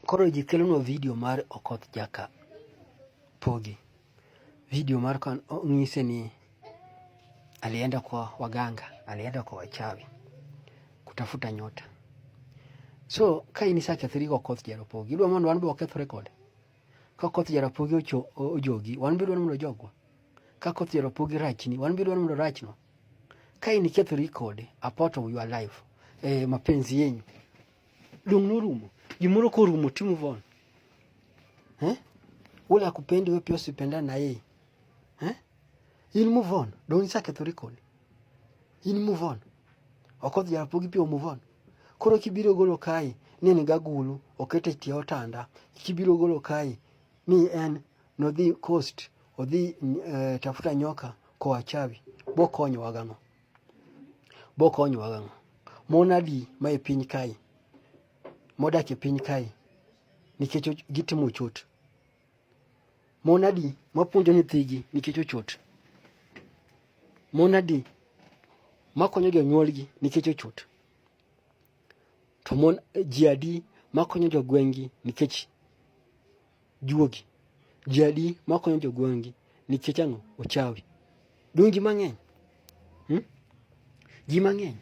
Koro ji kelonwa video mar Okoth Jaka Pogi. Video mar kan ong'ise ni alienda kwa waganga, alienda kwa wachawi kutafuta nyota. So ka in isakethori go Okoth Jarapogi, idwa mondo wan be wakethore kode? Ka Okoth Jarapogi ocho ojogi, wan be idwa mondo ojogwa? Ka Okoth Jarapogi rachni, wan be idwa mondo rachno? Ka in ikethori kode, a part of your life, eh, mapenzi yenyu Dong norumo. Gimoro korumo to move on. Eh? Ule akupendi wewe pia usipenda na yeye. Eh? He'll move on. Don't isake thurikoni. He'll move on. Okoth jarapogi pia move on. Koro kibiro golo kai ni ni gagulu okete tie otanda. Kibiro golo kai ni en nodhi coast odhi uh, tafuta nyoka kwa wachawi. Bokonyo wagano. Bokonyowa gang'o? Mon adi ma e piny kae, modak e piny kae nikech gitimo ochot? Mon adi mapuonjo nyithigi nikech ochot? Mon adi makonyo jonyuolgi nikech ochot? To mon ji adi makonyo jogweng'gi nikech Juogi. Ji adi ma konyo jogweng'gi nikech ang'o? Ochawi. Dong' ji mang'eny. Hmm? Ji mang'eny.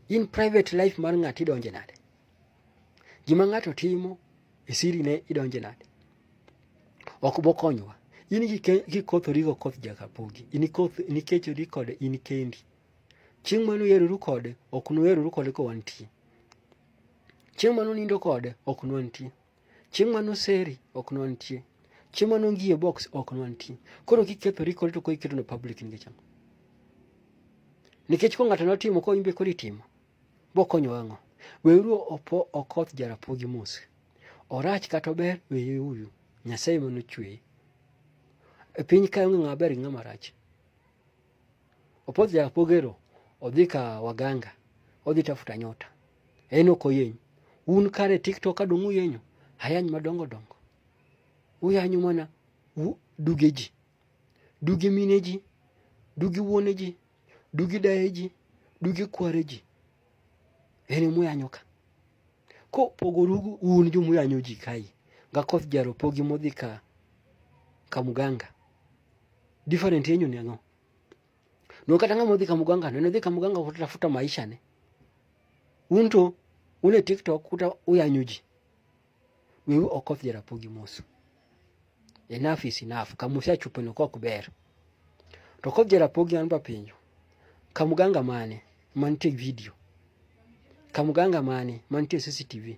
In private life mar ng'ato idonje nade? Gima ng'ato timo e siri ne idonje nade? Ok bokonyowa. In kikothori go koth jakapogi. In ikoth nikechori kode in kendi. Chieng' mano yeroru kode ok nuyeroru kode kowantie. Chieng' mano nindo kode ok nwantie. Chieng' mano seri ok nwantie. Chieng' mano ngie box ok nwantie. Koro kikethori kori to koro iketo ne public nikech ang'o? Nikech ko ng'ato notimo ko imbe koro itimo. Bokonyo ang'o? Weuru opo okoth jarapogi mos. Orach kata ober weye uyu. Nyasaye mano chweye. E piny kae onge ng'ama ber gi ng'ama rach. Opozi Apogero odhi ka waganga, odhi tafuta nyota. En ok oyeny. Un kare TikTok adong' uyenyo, ayany madongo dongo. Uyanyo mana duge ji, duge mine ji, duge wuone ji, duge daye ji, duge kware ji. En emuyanyo ka. Ko pogorugu un jomuyanyo ji kae, ngakoth jaro pogi modhi ka, ka muganga. Different yenyu ni ang'o? No kata ng'ama odhi kamuganga no, odhi kamuganga kutafuta maisha ne. Unto une TikTok kuta uyanyu ji. Wewe okoth jarapogi mosu. Enough is enough. Kamusia chupo no kok ber. To kok jarapogi anba pinyo. Kamuganga mane mantie video. Kamuganga mane mantie CCTV.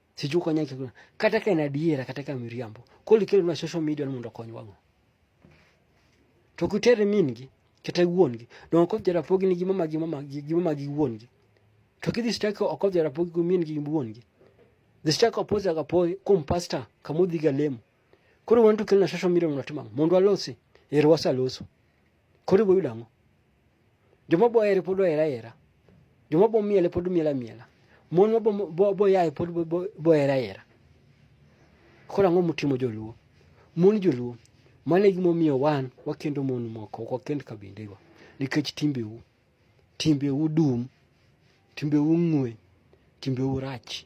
Sijui konyo kiko. Kata ka en adiera kata ka miriambo. Koli kelo na social media ni mondo kony wango. To kutere mingi kata wuon gi. Don ko jara pogi ni gima magi mama gi gima magi wuon gi. To kidhi stako oko jara pogi ku mingi wuon gi. Dhi stako opoza ga poi kum pastor kamudhi ga lemo. Koro wantu kelo na social media mondo timam. Mondo alosi. Ero wasaloso. Koro iboyudo ang'o? Joma bohere pod ohere ahera. Joma bomiele pod miele amiela. Mon ma boyaye pod bohere ahera. Koro ang'o mutimo joluo? Mon joluo, mano e gimomiyo wan wakendo mon moko, ok wakend kabindego. Nikech timbeu, timbeu dum, timbeu ng'we, timbeu rach.